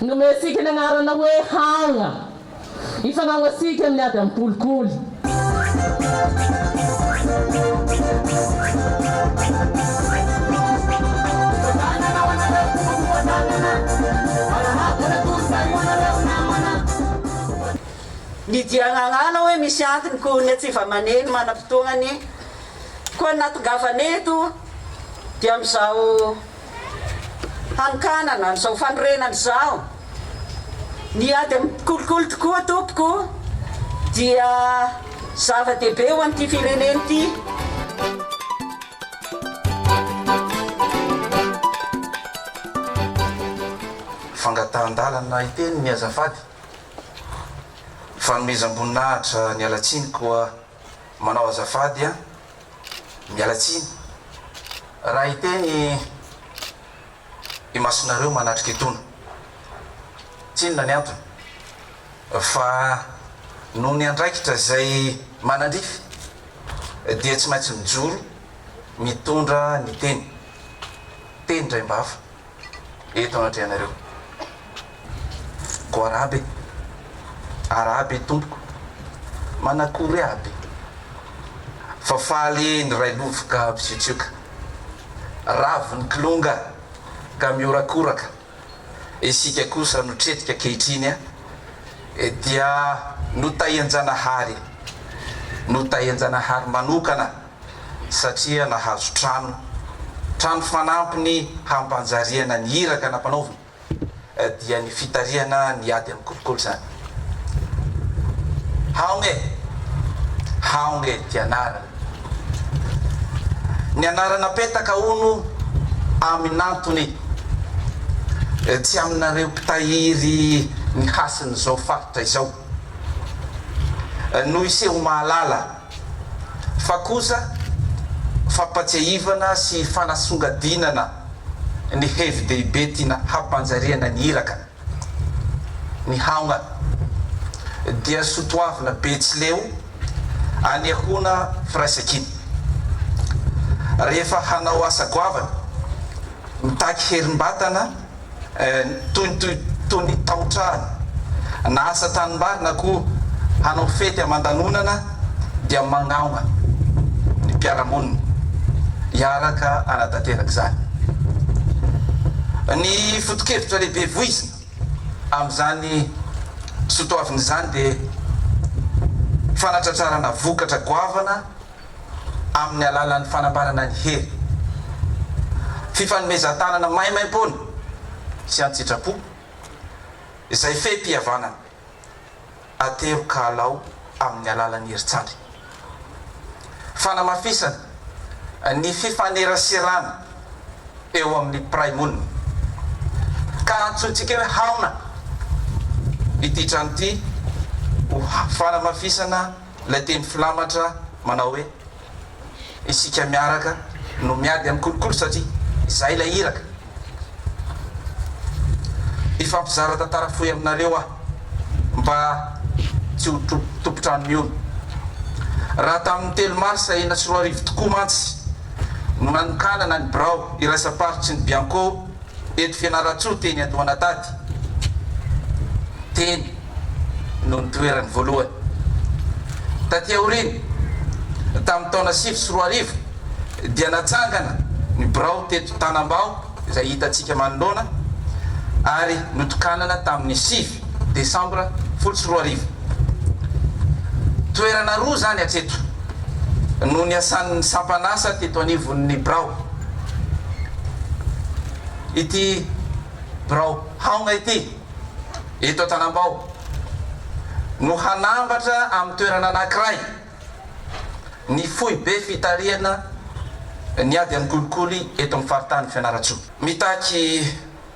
Nomentsika ny anarana hoe Hagna. Hifanao antsika amin'ny ady amin'ny kolikoly. Ny diagnanana hoe misy antony koa ny atsy vamaneny manam-potoanany koa nahatongavany eto dia amin'izao. hanokanana an'izao fanorenana izao. Ny ady amin'ny kolikoly tokoa tompoko dia zava-dehibe ho an'ity firenena ity. Fangatahan-dalana hiteny ny azafady. Fanomezam-boninahitra niala tsiny koa. Manao azafady an! Miala tsiny raha hiteny imasonareo manatrika etona. Tsinona ny antony? Fa noho ny andraikitra izay manandrify dia tsy maintsy mijoro mitondra ny teny. Teny indray mba hafa. eto anatrehanareo. Ko arabe, arabe tompoko, manakory aby fa faly ny railovoka misiotsioka, ravo ny kilonga ka mihorakoraka, isika kosa no tretika ankehitriny dia notahian-janahary, notahian-janahary manokana. satria nahazo trano, trano fanampy ny hampanjariana ny iraka nampanaovina, dia ny fitarihana ny ady amin'ny kolikoly izany. Haogna e! Haogna e! Ity anarana. Ny anarana apetaka hono amin'antony, tsy aminareo mpitahiry ny hasin'izao faritra izao no hiseho mahalala fa kosa fampatsiahivana sy fanasongadinana ny hevi-dehibe tiana hampanjariana ny iraka. Ny haongana dia sotoavina betsileo anehoana firaisankina. Rehefa hanao asa goavana, mitaky herim-batana, toy ny toy ny taotrano na asa tanimbary na koa hanao fety aman-danonana dia magnampa ny mpiara-monina hiaraka hanatanteraka izany. Ny foto-kevitra lehibe voizina amin'izany sotoavina izany dia fanatratrarana vokatra goavana, amin'ny alalan'ny fanambarana ny hery, fifanomezan-tanana maimaimpoana sy an-tsitrapo izay fehim-pihavanana ateroka alao amin'ny alalan'ny herintsary, fanamafisana ny fifaneraserana eo amin'ny mpiray monina ka antsointsika hoe haona ity trano ity ho fanamafisana ilay teny filamatra manao hoe isika miaraka no miady amin'ny kolikoly satria izay ilay iraka. Hifampizara tantara fohy aminareo aho mba tsy ho tompon-trano mihono. Raha tamin'ny telo marsa enina sy roa arivo tokoa mantsy no nanokanana ny birao iraisam-paritry ny Bianco Eto Fianarantsoa teny Andohanatady teny no nitoerany voalohany. Taty aoriana, tamin'ny taona sivy sy roa arivo dia natsangana ny birao teto Tanambao izay hitantsika manoloana ary notokanana tamin'ny sivy. Desambra folo sy roa arivo. Toerana roa izany hatreto no niasan'ny sampan'asa teto anivon'ny birao. Ity birao Haogna ity, eto Antanambao, no hanambatra amin'ny toerana anankiray ny foibe fitarihana ny ady amin'ny kolikoly eto amin'ny faritany Fianarantsoa. Mitaky.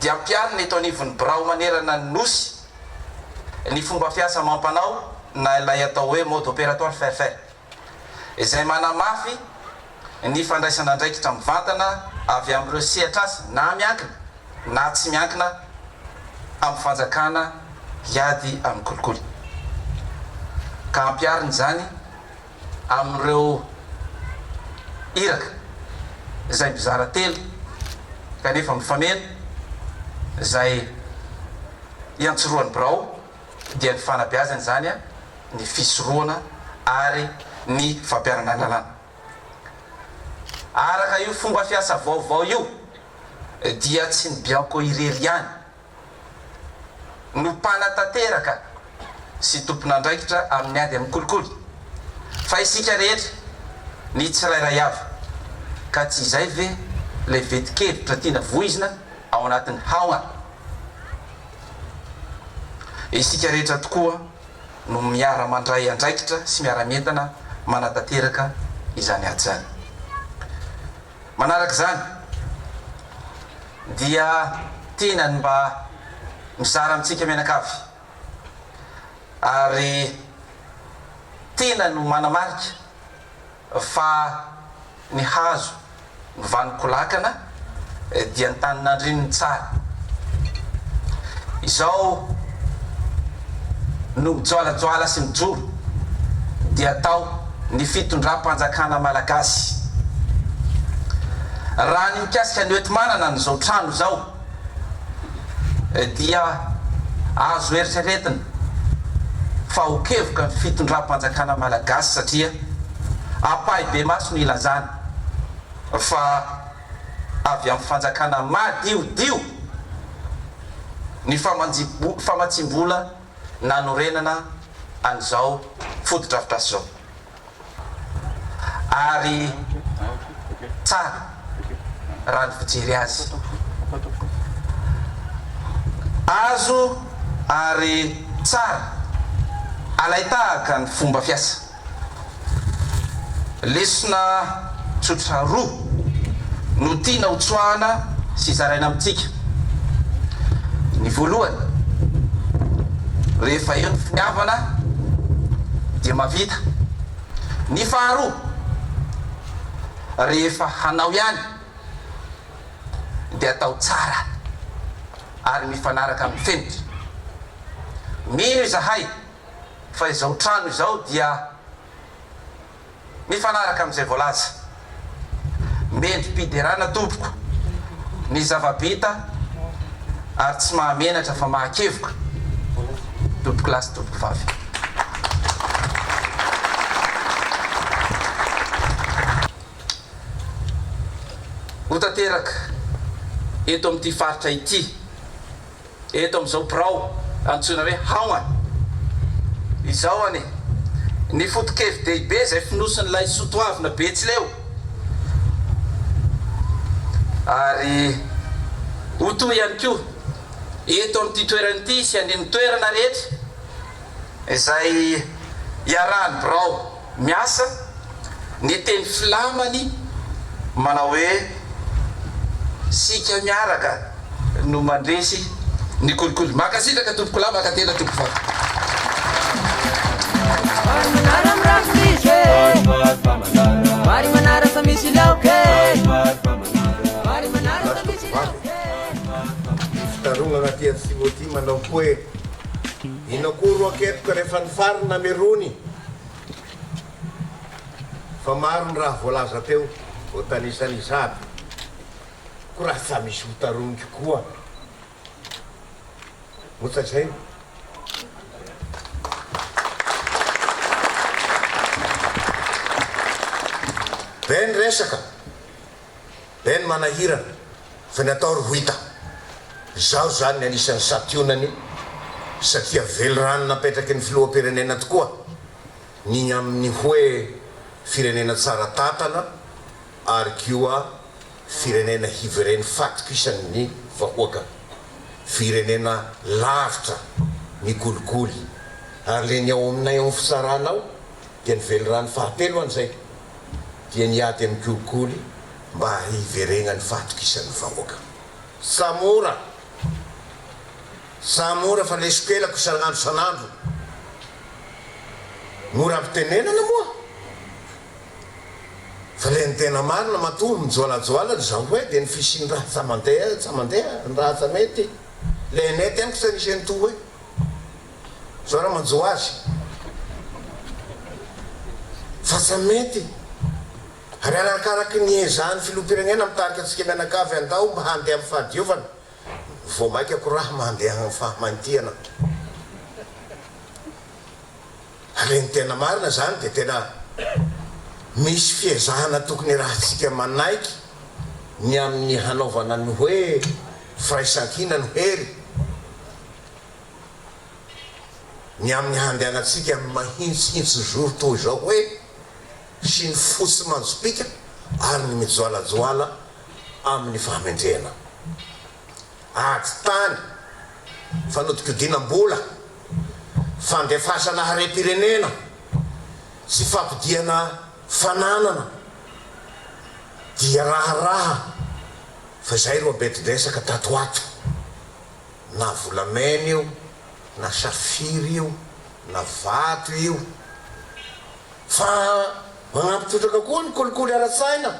dia ampiharina eto anivon'ny birao manerana ny Nosy ny fomba fiasa amam-panao na ilay atao hoe mode opératoire Fairfair izay manamafy ny fandraisana andraikitra mivantana avy amin'ireo sehatr'asa na miankina na tsy miankina amin'ny fanjakana hiady amin'ny kolikoly ka ampiharina izany amin'ireo iraka izay mizara telo kanefa mifameno, izay iantsorohan'ny birao dia ny fanabeazana izany, ny fisorohana ary ny fampiharana lalàna. Araka io fomba fiasa vaovao io dia tsy ny Bianco irery ihany no mpanatanteraka sy tompon'andraikitra amin'ny ady amin'ny kolikoly fa isika rehetra ny tsirairay avy ka tsy izay ve ilay vetin-kevitra tiana voizina ao anatin'ny haogna isika rehetra tokoa no miara mandray andraikitra sy miara-mientana manatanteraka izany ady izany. Manaraka izany dia tiana ny mba mizara amintsika mianakavy ary tiana ny manamarika fa ny hazo ny vanon-ko lakana dia ny tanin'andrininy tsara izao no mijoalajoala sy mijoro dia tao ny fitondram-panjakana malagasy. Raha ny mikasika ny eto manana an'izao trano izao dia azo eritreretina fa ho kevoka ny fitondram-panjakana malagasy satria ampahibemaso no ilazana fa avy amin'ny fanjakana madiodio ny famatsiam-bola nanorenana an'izao fotodrafitrasa izao ary tsara raha ny fijery azy. Azo ary tsara alain-tahaka ny fomba fiasa. Lesona tsotra roa no tiana ho tsoahana sy zaraina amintsika. Ny voalohany, rehefa eo ny finiavana dia mahavita. Ny faharoa, rehefa hanao ihany dia atao tsara ary mifanaraka amin'ny fenitra. Mino izahay fa izao trano izao dia mifanaraka amin'izay voalaza. Mendri-piderana tompoko ny zava-bita ary tsy mahamenatra fa mahakevoka tompoko lahy sy tompoko vavy. Ho tanteraka eto amin'ity faritra ity. eto amin'izao birao antsoina hoe Haogna izao anie. Ny foto-kevi-dehibe izay fonosin'ilay soatoavina Betsileo ary ho toy ihany koa eto amin'ity toerana ity sy any amin'ny toerana rehetra izay iarahan'ny birao. miasa, ny teny flamany manao hoe isika miaraka no mandresy ny kolikoly. Mankasitraka tompoko lahy, mankatena tompoko vavy. Vary manara mirary tsy misy e Vary vary fa manara Vary manara fa misy laoka e Vary vary fa manara Vary manara fa misy laoka e Vary vary fa manara Ny fikarohana aty Atsimo aty manao hoe, Inona koa ro akepoka rehefa ny fary namerony? Fa maro ny raha voalaza teo, voatanisa ny zado, ko raha tsa misy ho tarogniko koa mo tsa zay? Be ny resaka. Ben manahirana fa ny atao ry Wita. Izaho izany ny anisan'ny santionany satria velirano napetraky ny filoham-pirenena tokoa ny amin'ny hoe firenena tsara tantana ary koa firenena hiveren'ny fahatokisan'ny vahoaka. Firenena lavitra ny kolikoly ary le ny ao aminay ao amin'ny fitsarana ao. dia ny velirano fahatelo an'izay dia niady amin'ny kolikoly mba hiverenan'ny fahatokisan'ny vahoaka. Sa mora? Sa mora fa leso pelako isan'andro isan'andro? Mora ampitenenana moa fa ilay ny tena marina matoa mijoalajoala ny zahoay dia ny fisian'ny raha tsa mandeha tsa mandeha, ny raha tsa mety, ilay nety amiko tsa nisy an'itoa hoe. Zao raha manjo azy fa tsy mety ary arakaraky ny ezahan'ny filoham-pirenena mitarika antsika mianakavy andao mba handeha amin'ny fahadiovana vao maika ko raha mandeha amin'ny fahamanitihana ary ny tena marina izany dia tena misy fiezahana tokony hirahintsika manaiky ny amin'ny hanaovana ny hoe firaisankina no hery ny amin'ny handehanantsika amin'ny mahitsihitsizoro toa izao hoe sy ny fotsy manjopiaka ary ny mijoalajoala amin'ny fahamendrehana. Ady tany, fanodinkodinam-bola, fandefasana harem-pirenena sy fampodiana fananana dia raharaha fa izay ireo ambetin-dresaka tato ho ato. na volamena io na safira io na vato io fa manampy trotraka koa ny kolikoly ara-tsaina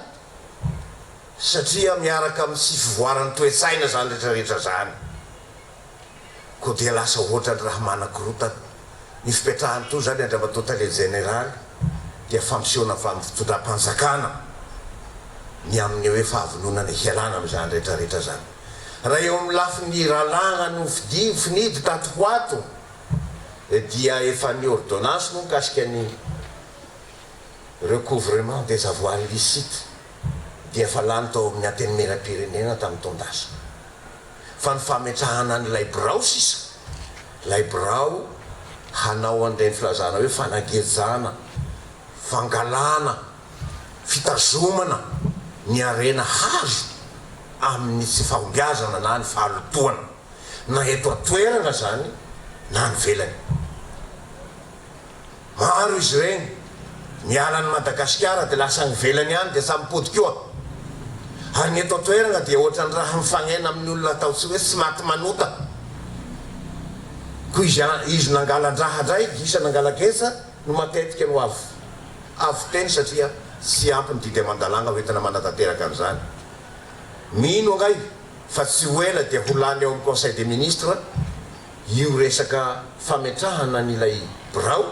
satria miaraka amin'ny tsy fivoaran'ny toe-tsaina izany rehetra rehetra izany koa dia lasa ohatran'ny raha manakorotana ny fipetrahany toa izany Andriamatoa Tale Jeneraly dia fampisehoana avy amin'ny fitondram-panjakana ny amin'ny hoe fahavononana hialana amin'izany rehetra rehetra izany. Raha eo amin'ny lafiny ralàna no fidiany finidy tato ho ato dia efa ny ordonnance moa mikasika ny recouvrement des avoirs illicites dia efa lany tao amin'ny Antenimierampirenena tamin'ny taon-dasa fa ny fametrahana an'ilay birao sisa, ilay birao hanao an'ireny filazana hoe fanagejana, fangalana. fitazomana ny harena hazo amin'ny tsy fahombiazana na ny fahalotoana, na eto an-toerana izany na any ivelany. Maro izy ireny, miala an'i Madagasikara dia lasa any ivelany any dia samy mipody koa. Ary ny eto an-toerana dia ohatran'ny raha mifagnena amin'ny olona atao tsy hoe tsy maty manota. Koa izy izy nangalan-draha indray, gisa nangala-getsa no matetika no avo. Avo teny satria tsy ampy ny didy aman-dalàna ho entina manatanteraka an'izany. Mino angahy fa tsy ho ela dia ho lany ao amin'ny Conseil des Ministres io resaka fametrahana an'ilay birao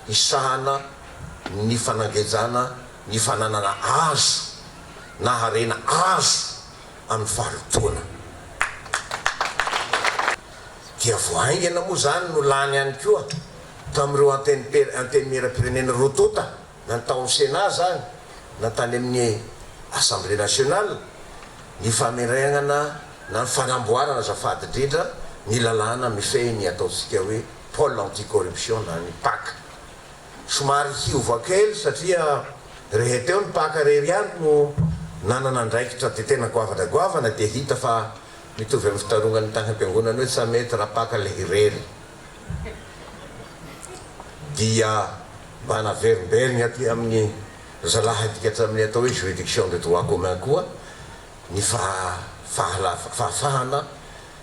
hisahana ny fanangejana ny fananana azo na harena azo amin'ny fahalotoana. Dia vao haingana moa izany no lany ihany koa. tamin'ireo antenimper antenimieram-pirenena roa tonta na tao amin'ny Sénat izany na tany amin'ny Assemblée nationale ny famerenana na ny fanamboarana azafady indrindra ny lalàna mifehy ny ataontsika hoe pôle anti-corruption na ny pac. Somary hiova kely satria rehe teo ny pac rery ihany no nanana andraikitra dia tena goavana goavana dia hita fa mitovy amin'ny fitarongan'ny tany am-piangonana hoe tsa mety raha pac ilay irery. dia mba naverimberiny aty amin'ny zalahadika hatramin'ny atao hoe juridiction de droit commun koa ny fahafahana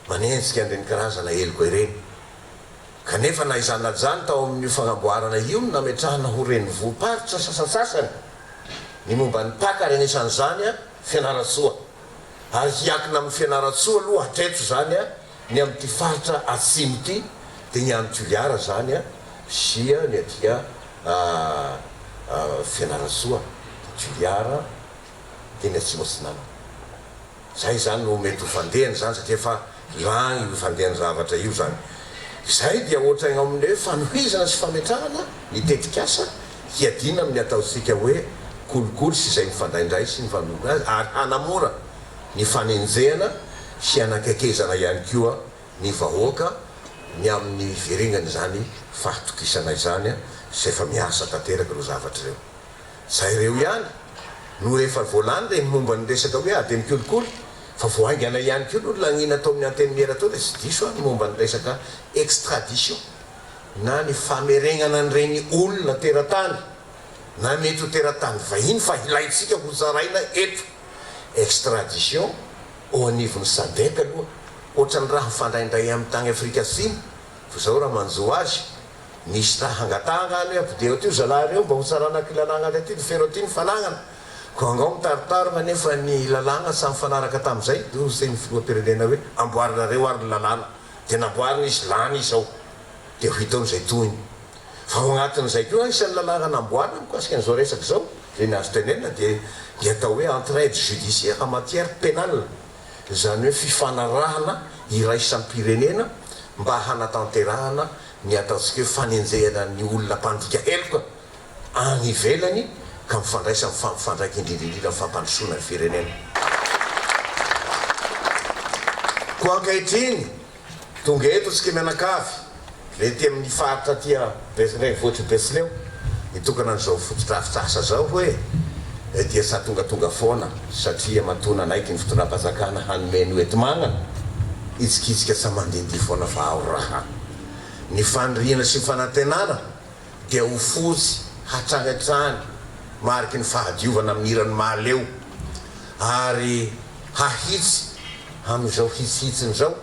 manenjika an'ireny karazana heloka ireny. Kanefa na izany na ijany tao amin'io fagnamboarana io no nametrahana ho renivohi-paritra sasantsasany ny momba ny mpaka ary anisan'izany Fianarantsoa. Ary hiakina amin'i Fianarantsoa aloha hatreto izany Ny amin'ity faritra atsimo ity dia ny any Toliara izany a, sy ny aty a Fianarantsoa, Toliara, dia ny Atsimo Atsinanana. Izay izany no mety ho fandehany izany satria efa lany io fandehan'ny zavatra io izany. Izay dia ohatran'ny ao amin'ny hoe fanohizana sy fametrahana ny tetikasa hiadiana amin'ny ataontsika hoe kolikoly sy izay mifandraindray sy mifanonona azy ary hanamora ny fanenjehana sy hanankaikezana ihany koa ny vahoaka ny amin'ny hiverengan' izany fahatokisana izany sy efa miasa tanteraka ireo zavatra ireo. Zay ireo ihany no rehefa voalany reny momba ny resaka hoe ady amin'ny kolikoly fa vao haingana ihany koa no laniana ataon'ny antenimiera tao raha tsy diso aho ny momba ny resaka extradition na ny fameregnana an'ireny olona teratany na mety ho teratany vahiny fa ilaintsika ho zaraina eto. extradition ao anivon'ny sadec aloha ohatran'ny raha mifandraindray amin'ny tany Afrika Atsimo fa zao raha manjo azy misy raha hangatahana any hoe ampideo aty io zalahy reo mba hotsarana aty lalagna aty no feno aty ny fanagana ko angao mitaritarina nefa ny lalagna tsy mifanaraka tamin'izay do zay ny filohampirenena hoe amboarinareo ary ny lalàna dia namboarina izy lany izy ao dia ho hitan'izay tohiny Fa ao anatin'izay koa isan'ny lalarana amboarina mikasika an'izao resaka izao, izay ny azo tenenina dia ny atao hoe entraide judiciaire en matière pénale, izany hoe fifanarahana iraisam-pirenena mba hanatanterahana ny ataontsika hoe fanenjehana ny olona mpandika heloka any ivelany ka mifandraisa amin'ny fampifandraika indrindra indrindra amin'ny fampandrosoana ny firenena. Koa ankehitriny, Tonga eto isika mianakavy ety amin'ny faritra aty renivohitry ny Betsileo hitokana an'izao fotodrafitrasa izao hoe dia sady tongatonga foana satria matoa nanaiky ny fitondram-panjakana hanome ny hoenti-manana hitsikitsika tsy hamandihindihy foana fa ao raha ny faniriana sy ny fanantenana dia ho fozy hatrany hatrany mariky ny fahadiovana amin'ny hiran'i Mahaleo ary hahitsy amin'izao hitsihitsiny izao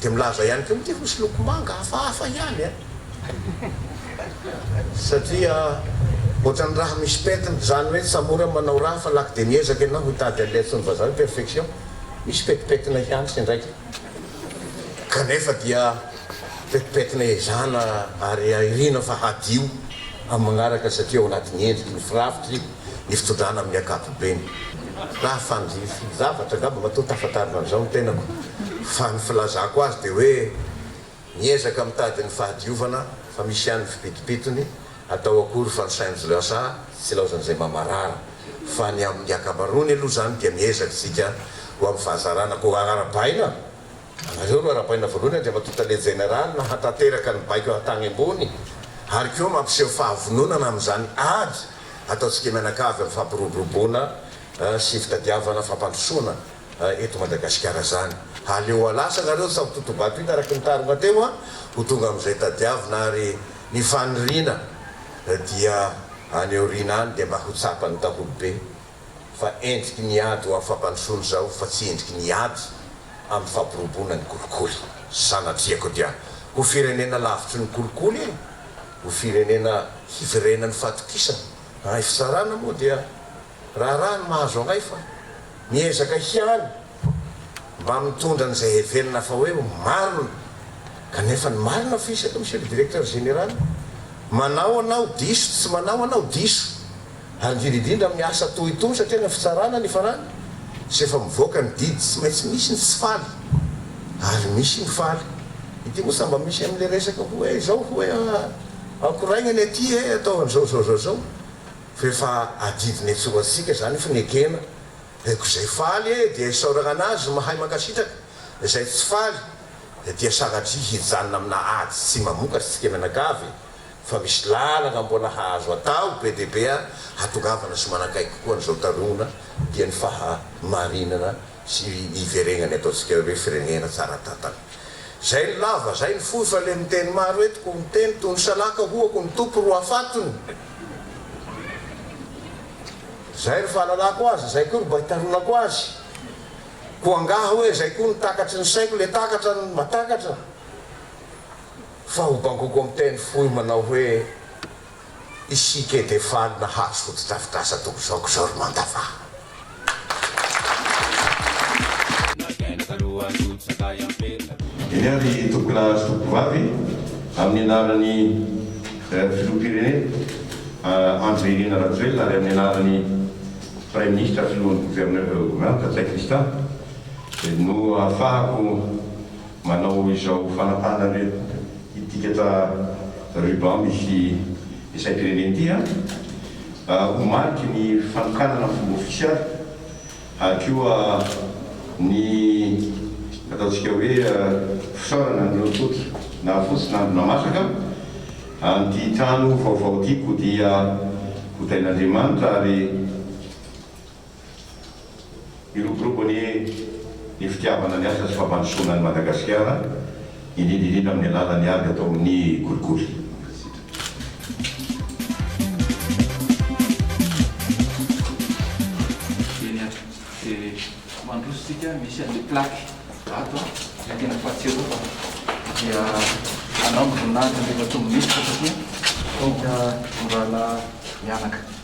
dia milaza ihany koa mity fotsy loko manga hafahafa ihany a! satria ohatran'ny raha misy pentina izany hoe tsy mora ny manao raha fa laky dia miezaka ianao hitady an'ilay antsoin'ny vazaha hoe perfection misy petipetina ihany sendra aika kanefa dia Pentipentina ezana ary airina fa hadio amin'ny manaraka satria ao anatin'ny endriky ny firafitry ny fitondrana amin'ny ankapobeny. Raha fandrify zavatra angamba matoa tafatarina amin'izao ny tenako fa ny filazako azy dia hoe miezaka mitady ny fahadiovana fa misy ihany ny fipitopitony, atao akory fa ny sain'zlsa tsy ilaozan'izay mamarara fa ny amin'ny akamaroany aloha izany dia miezaka isika ho amin'ny fahazarana koa arabaina. Nareo no arabaina voalohany Andriamatoa Tale Jeneraly hatanteraka ny baiko hatagny ambony ary koa mampiseho fahavononana amin'izany ady ataontsika mianakavy amin'ny fampiroboroboana sy fitadiavana fampandrosoana eto Madagasikara izany. Aleo halasa nareo sao totobato hita araky ny tarogna teo ho tonga amin'izay tadiavina ary ny faniriana dia any aoriana any dia mba ho tsapan'ny daholo be. fa endriky ny ady ho amin'ny fampandrosoana izao fa tsy endriky ny ady amin'ny fampirobona ny kolikoly. Sanatria-ko dia ho firenena lavitry ny kolikoly e! Ho firenena hiverenan'ny fatokisana. Raha fitsarana moa dia raharaha ny mahazo anay fa miezaka ihany mba mitondra an'izay heverina fa hoe marina kanefa ny marina fisaka Monsieur le Directeur Général. Manao anao diso tsy manao anao diso. ary indrindra indrindra amin'ny asa toa itony satria any amin'ny fitsarana ny farany sy efa mivoaka ny didy tsy maintsy misy ny tsy faly ary misy ny faly ity moa sambà misy amin'ilay resaka hoe izao hoe ankoraigna ny aty e atao an'izao zao zao zao fa efa adidina etsy ho atsika izany fa ny ekena dia ko izay faly e dia isaoragna anazy mahay mankasitraka izay tsy faly dia dia sanatria hijanona amina ady tsy mamokatry tsika mianakavy fa misy lalana mbola hahazo atao be dia be ary hatongavana sy manakaiky kokoa an'izao tarona dia ny fahamarinana sy hiverenany ataontsika hoe firenena tsara tantana. Zay ny lava, zay ny fohy fa le miteny maro eto ko miteny toy ny salaka hoako ny Tompo ro afatony. Zay ry fahalalako azy, zay koa ry mba itaronako azy. Ko angaha hoe zay koa no takatry ny saiko le takatra ny matakatra. Fa ho bangoko miteny fohy manao hoe isika dia faly nahazo fotodrafitrasa toa izao ko izao ry Mandava. Dia ry tompon'ahy sy tomponvavy, amin'ny anaran'ny Filoham-pirenena Andry Nirina Rajoelina ary amin'ny anaran'ny Praiminisitra, Filohan'ny Governeura Ratsay Christian no ahafahako Manao izao fanapahana ritikatra ruban misy ny saim-pirenena ity ho mariky ny fanokanana amin'ny fomba ofisialy ary koa ny ataontsika hoe fisaorana an'ireo tonta nahafotsy na namasaka an'ity trano vaovao ity kodia hotain'Andriamanitra ary Miroborobo ny ny fitiavana ny asa sy fampandrosoana an'i Madagasikara, indrindra indrindra amin'ny alalan'ny ady atao amin'ny kolikoly. Eny an, dia mandroso isika, misy an'ilay plaque ato an, ilay tena fahatsiarovana, dia anao ny voninahitra an'ilay efa tsy ho minisitra satria hita ny rahalahy mianaka.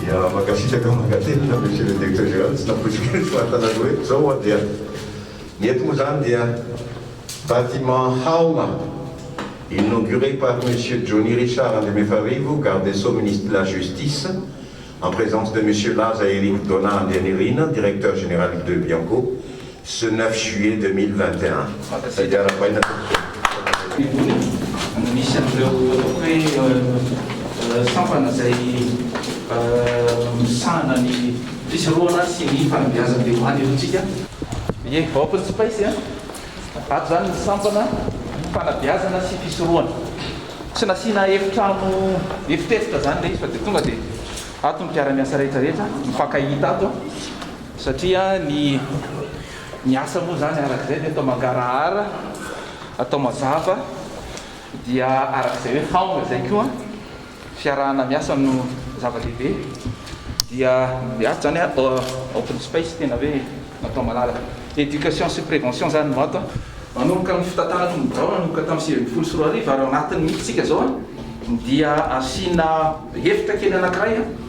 Dia mankasitraka mankatelina Monsieur le Directeur Général, tsy nampoiziko ny fahantana ny hoe zao hoa dia ny eto moa zany dia bâtiment haoma inauguré par Monsieur Johnny Richard Andriamefarivo, Garde des Sceaux Ministre de la Justice, en présence de Monsieur Laza Eric Donat Andrianirina, Directeur Général de Bianco, Ce neuf juillet deux mille vingt et un, izay diaram-baina tao am-piangonana Tsimonitra no nisy an'ireo ataoko hoe sampana izay misahana ny fisorohana sy ny fanabeazam-piandohana eto amintsika. Ie, open space a! Ato izany ny sampana fanabeazana sy fisorohana. Tsy nasiana efitrano efitrefitra izany ilay izy fa dia tonga dia ato ny mpiara-miasa rehetra rehetra mifankahita ato. Satria ny ny asa moa izany araka izay dia atao mangarahara, atao mazava, dia araka izay hoe haona izay koa, fiarahana miasa no zava-dehibe, dia ato izany a open space tena hoe natao malalaka. Education sy prévention izany no ato a. Manomboka amin'ny fitantanana ny birao nanomboka tamin'ny sivy ambin'ny folo sy roa arivo ary ao anatiny mihitsy isika izao a, dia asiana efitra kely anankiray a.